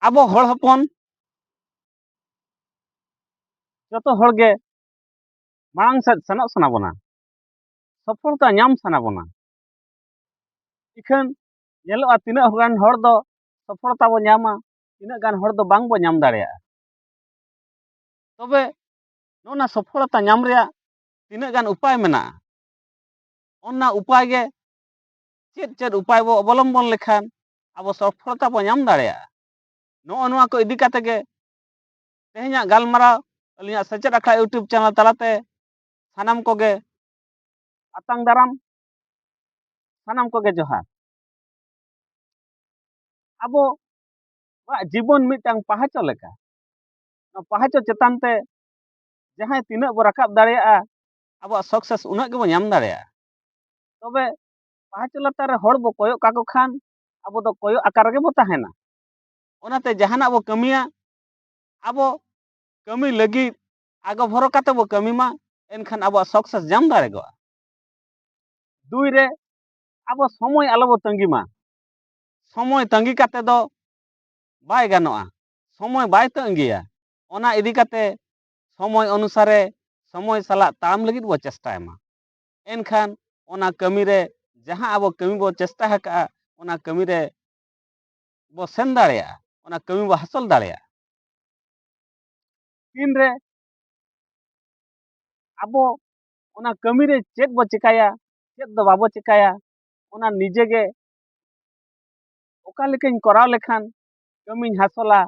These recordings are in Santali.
ᱟᱵᱚ ᱦᱚᱲ ᱦᱚᱯᱚᱱ ᱡᱚᱛᱚ ᱦᱚᱲ ᱜᱮ ᱢᱟᱲᱟᱝ ᱥᱮᱫ ᱥᱮᱱᱚᱜ ᱥᱟᱱᱟ ᱵᱚᱱᱟ ᱥᱚᱯᱷᱚᱞᱛᱟ ᱧᱟᱢ ᱥᱟᱱᱟ ᱵᱚᱱᱟ ᱤᱠᱷᱟᱹᱱ ᱧᱮᱞᱚᱜᱼᱟ ᱛᱤᱱᱟᱹᱜ ᱜᱟᱱ ᱦᱚᱲ ᱫᱚ ᱥᱚᱯᱷᱚᱞᱛᱟ ᱵᱚ ᱧᱟᱢᱟ ᱛᱤᱱᱟᱹᱜ ᱜᱟᱱ ᱦᱚᱲ ᱫᱚ ᱵᱟᱝ ᱵᱚ ᱧᱟᱢ ᱫᱟᱲᱮᱭᱟᱜᱼᱟ ᱛᱚᱵᱮ ᱱᱚᱜᱼᱚ ᱱᱟ ᱥᱚᱯᱷᱚᱞᱛᱟ ᱧᱟᱢ ᱨᱮᱭᱟᱜ ᱛᱤᱱᱟᱹᱜ ᱜᱟᱱ ᱩᱯᱟᱭ ᱢᱮᱱᱟᱜᱼᱟ ᱚᱱᱟ ᱩᱯᱟᱭ ᱜᱮ ᱪᱮᱫ ᱪᱮᱫ ᱩᱯᱟᱭ ᱵᱚ ᱚᱵᱚᱞᱚᱢᱵᱚᱱ ᱞᱮᱠᱷᱟᱱ ᱟᱵᱚ ᱥᱚᱯᱷᱚᱞᱚᱛᱟ ᱵᱚ ᱧᱟᱢ ᱫᱟᱲᱮᱭᱟᱜᱼᱟ ᱱᱚᱜᱼᱚ ᱱᱚᱣᱟ ᱠᱚ ᱤᱫᱤ ᱠᱟᱛᱮ ᱜᱮ ᱛᱮᱦᱮᱧᱟᱜ ᱜᱟᱞᱢᱟᱨᱟᱣ ᱟᱹᱞᱤᱧᱟᱜ ᱥᱮᱪᱮᱫ ᱟᱠᱷᱲᱟ ᱤᱭᱩᱴᱩᱵᱽ ᱪᱮᱱᱮᱞ ᱛᱟᱞᱟᱛᱮ ᱥᱟᱱᱟᱢ ᱠᱚᱜᱮ ᱟᱛᱟᱝ ᱫᱟᱨᱟᱢ ᱥᱟᱱᱟᱢ ᱠᱚᱜᱮ ᱡᱚᱦᱟᱨ ᱟᱵᱚ ᱟᱵᱚᱣᱟᱜ ᱡᱤᱵᱚᱱ ᱢᱤᱫᱴᱟᱝ ᱯᱟᱦᱟᱪᱚ ᱞᱮᱠᱟ ᱱᱚᱣᱟ ᱯᱟᱦᱟᱪᱚ ᱪᱮᱛᱟᱱ ᱛᱮ ᱡᱟᱦᱟᱸᱭ ᱛᱤᱱᱟᱹᱜ ᱵᱚ ᱨᱟᱠᱟᱵ ᱫᱟᱲᱮᱭᱟᱜᱼᱟ ᱟᱵᱚᱣᱟᱜ ᱥᱟᱠᱥᱮᱥ ᱩᱱᱟᱹᱜ ᱜᱮᱵᱚ ᱧᱟᱢ ᱫᱟᱲᱮᱭᱟᱜᱼᱟ ᱛᱚᱵᱮ ᱯᱟᱦᱟᱪ ᱞᱟᱛᱟᱨ ᱨᱮ ᱦᱚᱲ ᱵᱚ ᱠᱚᱭᱚᱜ ᱠᱟᱠᱚ ᱠᱷᱟᱱ ᱟᱵᱚ ᱫᱚ ᱠᱚᱭᱚᱜ ᱟᱠᱟ ᱨᱮᱜᱮ ᱵᱚ ᱛᱟᱦᱮᱱᱟ ᱚᱱᱟᱛᱮ ᱡᱟᱦᱟᱱᱟᱜ ᱵᱚ ᱠᱟᱹᱢᱤᱭᱟ ᱟᱵᱚ ᱠᱟᱹᱢᱤ ᱞᱟᱹᱜᱤᱫ ᱟᱜᱚ ᱵᱷᱚᱨᱚ ᱠᱟᱛᱮ ᱵᱚ ᱠᱟᱹᱢᱤ ᱢᱟ ᱮᱱᱠᱷᱟᱱ ᱟᱵᱚᱣᱟᱜ ᱥᱟᱠᱥᱮᱥ ᱧᱟᱢ ᱫᱟᱲᱮᱭᱟᱜᱼᱟ ᱫᱩᱭ ᱨᱮ ᱟᱵᱚ ᱥᱚᱢᱚᱭ ᱟᱞᱚ ᱵᱚ ᱛᱟᱺᱜᱤ ᱢᱟ ᱥᱚᱢᱚᱭ ᱛᱟᱺᱜᱤ ᱠᱟᱛᱮ ᱫᱚ ᱵᱟᱭ ᱜᱟᱱᱚᱜᱼᱟ ᱥᱚᱢᱚᱭ ᱵᱟᱭ ᱛᱟᱺᱜᱤᱭᱟ ᱚᱱᱟ ᱤᱫᱤ ᱠᱟᱛᱮ ᱥᱚᱢᱚᱭ ᱚᱱᱩᱥᱟᱨᱮ ᱥᱚᱢᱚᱭ ᱥᱟᱞᱟᱜ ᱛᱟᱲᱟᱢ ᱞᱟᱹᱜᱤᱫ ᱵᱚ ᱪᱮᱥᱴᱟᱭ ᱢᱟ ᱮᱱᱠᱷᱟᱱ ᱚᱱᱟ ᱠᱟᱹᱢᱤ ᱨᱮ ᱡᱟᱦᱟᱸ ᱟᱵᱚ ᱠᱟᱹᱢᱤ ᱵᱚ ᱪᱮᱥᱴᱟ ᱟᱠᱟᱫᱼᱟ ᱚᱱᱟ ᱠᱟᱹᱢᱤ ᱨᱮ ᱵᱚ ᱥᱮᱱ ᱫᱟᱲᱮᱭᱟᱜᱼᱟ ᱚᱱᱟ ᱠᱟᱹᱢᱤ ᱵᱚ ᱦᱟᱥᱚᱞ ᱫᱟᱲᱮᱭᱟᱜᱼᱟ ᱛᱤᱱ ᱨᱮ ᱟᱵᱚ ᱚᱱᱟ ᱠᱟᱹᱢᱤ ᱨᱮ ᱪᱮᱫ ᱵᱚ ᱪᱮᱠᱟᱭᱟ ᱪᱮᱫ ᱫᱚ ᱵᱟᱵᱚ ᱪᱮᱠᱟᱭᱟ ᱚᱱᱟ ᱱᱤᱡᱮ ᱜᱮ ᱚᱠᱟ ᱞᱮᱠᱟᱧ ᱠᱚᱨᱟᱣ ᱞᱮᱠᱷᱟᱱ ᱠᱟᱹᱢᱤᱧ ᱦᱟᱥᱚᱞᱟ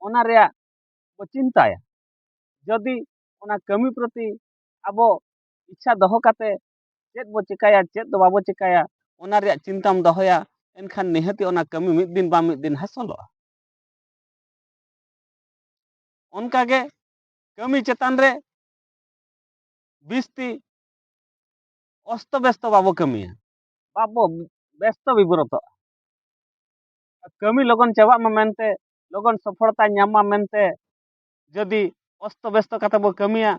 ᱚᱱᱟ ᱨᱮᱭᱟᱜ ᱵᱚ ᱪᱤᱱᱛᱟᱭᱟ ᱡᱚᱫᱤ ᱚᱱᱟ ᱠᱟᱹᱢᱤ ᱯᱨᱚᱛᱤ ᱟᱵᱚ ᱤᱪᱪᱷᱟ ᱫᱚᱦᱚ ᱠᱟᱛᱮ ᱪᱮᱫ ᱵᱚ ᱪᱮᱠᱟᱭᱟ ᱪᱮᱫ ᱫᱚ ᱵᱟᱵᱚ ᱪᱮᱠᱟᱭᱟ ᱚᱱᱟ ᱨᱮᱭᱟᱜ ᱪᱤᱱᱛᱟᱢ ᱫᱚᱦᱚᱭᱟ ᱮᱱᱠᱷᱟᱱ ᱱᱤᱦᱟᱹᱛᱤ ᱚᱱᱟ ᱠᱟᱹᱢᱤ ᱢᱤᱫ ᱫᱤᱱ ᱵᱟᱝ ᱢᱤᱫ ᱫᱤᱱ ᱦᱟᱥᱚᱞᱚᱜᱼᱟ ᱚᱱᱠᱟ ᱜᱮ ᱠᱟᱹᱢᱤ ᱪᱮᱛᱟᱱ ᱨᱮ ᱵᱤᱥᱛᱤ ᱚᱥᱛᱚ ᱵᱮᱥᱛᱚ ᱵᱟᱵᱚ ᱠᱟᱹᱢᱤᱭᱟ ᱵᱟᱵᱚ ᱵᱮᱥᱛᱚ ᱵᱤᱵᱨᱚᱛᱚᱜᱼᱟ ᱠᱟᱹᱢᱤ ᱞᱚᱜᱚᱱ ᱪᱟᱵᱟᱜ ᱢᱟ ᱢᱮᱱᱛᱮ ᱞᱚᱜᱚᱱ ᱥᱚᱯᱷᱚᱞᱚᱛᱟ ᱧᱟᱢ ᱢᱟ ᱢᱮᱱᱛᱮ ᱡᱩᱫᱤ ᱚᱥᱛᱚ ᱵᱮᱥᱛᱚ ᱠᱟᱛᱮ ᱵᱚ ᱠᱟᱹᱢᱤᱭᱟ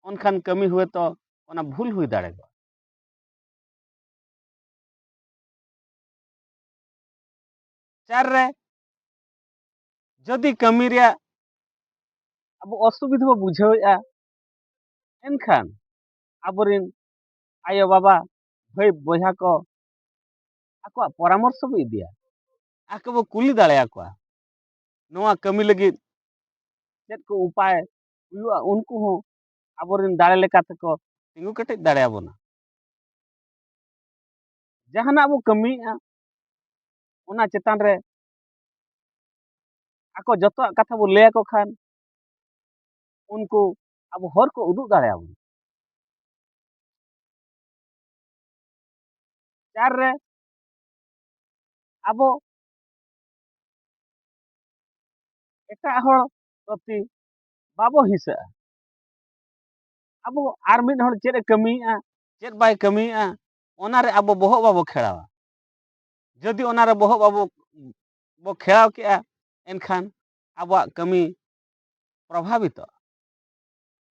ᱚᱱᱠᱷᱟᱱ ᱠᱟᱹᱢᱤ ᱦᱩᱭ ᱛᱚ ᱚᱱᱟ ᱵᱷᱩᱞ ᱦᱩᱭ ᱫᱟᱲᱮᱭᱟᱜᱼᱟ ᱪᱟᱨ ᱨᱮ ᱡᱩᱫᱤ ᱠᱟᱹᱢᱤ ᱨᱮᱭᱟᱜ ᱟᱵᱚ ᱚᱥᱩᱵᱤᱫᱷᱟ ᱵᱚ ᱵᱩᱡᱷᱟᱹᱣᱮᱫᱼᱟ ᱮᱱᱠᱷᱟᱱ ᱟᱵᱚᱨᱮᱱ ᱟᱭᱳᱼᱵᱟᱵᱟ ᱵᱷᱟᱹᱭ ᱵᱚᱭᱦᱟ ᱠᱚ ᱟᱠᱚᱣᱟᱜ ᱯᱚᱨᱟᱢᱚᱨᱥᱚ ᱵᱚ ᱤᱫᱤᱭᱟ ᱟᱠᱚ ᱵᱚ ᱠᱩᱞᱤ ᱫᱟᱲᱮᱭᱟᱠᱚᱣᱟ ᱱᱚᱣᱟ ᱠᱟᱹᱢᱤ ᱞᱟᱹᱜᱤᱫ ᱪᱮᱫ ᱠᱚ ᱩᱯᱟᱭ ᱦᱩᱭᱩᱜᱼᱟ ᱩᱱᱠᱩ ᱦᱚᱸ ᱟᱵᱚᱨᱮᱱ ᱫᱟᱲᱮ ᱞᱮᱠᱟ ᱛᱮᱠᱚ ᱛᱤᱸᱜᱩ ᱠᱮᱴᱮᱡ ᱫᱟᱲᱮᱭᱟᱵᱚᱱᱟ ᱡᱟᱦᱟᱱᱟᱜ ᱵᱚ ᱠᱟᱹᱢᱤᱭᱮᱫᱼᱟ ᱚᱱᱟ ᱪᱮᱛᱟᱱ ᱨᱮ ᱟᱠᱚ ᱡᱚᱛᱚᱣᱟᱜ ᱠᱟᱛᱷᱟ ᱵᱚ ᱞᱟᱹᱭ ᱟᱠᱚ ᱠᱷᱟᱱ ᱩᱱᱠᱩ ᱟᱵᱚ ᱦᱚᱨ ᱠᱚ ᱩᱫᱩᱜ ᱫᱟᱲᱮᱭᱟᱵᱚᱱᱟ ᱪᱟᱨ ᱨᱮ ᱟᱵᱚ ᱮᱴᱟᱜ ᱦᱚᱲ ᱯᱨᱚᱛᱤ ᱵᱟᱵᱚ ᱦᱤᱥᱟᱹᱜᱼᱟ ᱟᱵᱚ ᱟᱨ ᱢᱤᱫ ᱦᱚᱲ ᱪᱮᱫ ᱮ ᱠᱟᱹᱢᱤᱭᱮᱫᱼᱟ ᱪᱮᱫ ᱵᱟᱭ ᱠᱟᱹᱢᱤᱭᱮᱫᱼᱟ ᱚᱱᱟᱨᱮ ᱟᱵᱚ ᱵᱚᱦᱚᱜ ᱵᱟᱵᱚ ᱠᱷᱮᱲᱟᱣᱟ ᱡᱩᱫᱤ ᱚᱱᱟᱨᱮ ᱵᱚᱦᱚᱜ ᱵᱟᱵᱚ ᱵᱚ ᱠᱷᱮᱲᱟᱣ ᱠᱮᱜᱼᱟ ᱮᱱᱠᱷᱟᱱ ᱟᱵᱚᱣᱟᱜ ᱠᱟᱹᱢᱤ ᱯᱨᱚᱵᱷᱟᱵᱤᱛᱚᱜᱼᱟ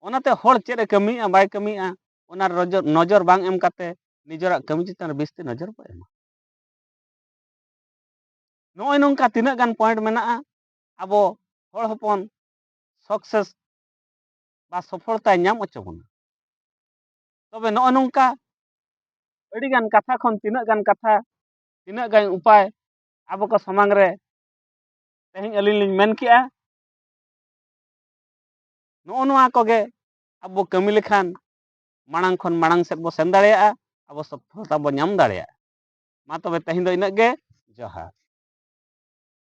ᱚᱱᱟᱛᱮ ᱦᱚᱲ ᱪᱮᱫ ᱮ ᱠᱟᱹᱢᱤᱭᱮᱫᱼᱟ ᱵᱟᱭ ᱠᱟᱹᱢᱤᱭᱮᱫᱼᱟ ᱚᱱᱟ ᱱᱚᱡᱚᱨ ᱱᱚᱡᱚᱨ ᱵᱟᱝ ᱮᱢ ᱠᱟᱛᱮ ᱱᱤᱡᱮᱨᱟᱜ ᱠᱟᱹᱢᱤ ᱪᱮᱛᱟᱱ ᱨᱮ ᱵᱤᱥᱛᱤ ᱱᱚᱡᱚᱨ ᱵᱚ ᱮᱢᱟ ᱱᱚᱜᱼᱚᱭ ᱱᱚᱝᱠᱟ ᱛᱤᱱᱟᱹᱜ ᱜᱟᱱ ᱯᱚᱭᱮᱱᱴ ᱢᱮᱱᱟᱜᱼᱟ ᱟᱵᱚ ᱦᱚᱲ ᱦᱚᱯᱚᱱ ᱥᱚᱠᱥᱮᱥ ᱵᱟ ᱥᱚᱯᱷᱚᱞᱛᱟᱭ ᱧᱟᱢ ᱦᱚᱪᱚ ᱵᱚᱱᱟ ᱛᱚᱵᱮ ᱱᱚᱜᱼᱚᱭ ᱱᱚᱝᱠᱟ ᱟᱹᱰᱤ ᱜᱟᱱ ᱠᱟᱛᱷᱟ ᱠᱷᱚᱱ ᱛᱤᱱᱟᱹᱜ ᱜᱟᱱ ᱠᱟᱛᱷᱟ ᱛᱤᱱᱟᱹᱜ ᱜᱟᱱ ᱩᱯᱟᱭ ᱟᱵᱚ ᱠᱚ ᱥᱟᱢᱟᱝ ᱨᱮ ᱛᱮᱦᱮᱧ ᱟᱹᱞᱤᱧ ᱞᱤᱧ ᱢᱮᱱ ᱠᱮᱜᱼᱟ ᱱᱚᱜᱼᱚ ᱱᱚᱣᱟ ᱠᱚᱜᱮ ᱟᱵᱚ ᱠᱟᱹᱢᱤ ᱞᱮᱠᱷᱟᱱ ᱢᱟᱲᱟᱝ ᱠᱷᱚᱱ ᱢᱟᱲᱟᱝ ᱥᱮᱫ ᱵᱚ ᱥᱮᱱ ᱫᱟᱲᱮᱭᱟᱜᱼᱟ ᱟᱵᱚ ᱥᱚᱯᱷᱚᱞᱛᱟ ᱵᱚ ᱧᱟᱢ ᱫᱟᱲᱮᱭᱟᱜᱼᱟ ᱢᱟ ᱛᱚᱵᱮ ᱛᱮᱦᱮᱧ ᱫᱚ ᱤᱱᱟᱹᱜ ᱜᱮ ᱡᱚᱦᱟᱨ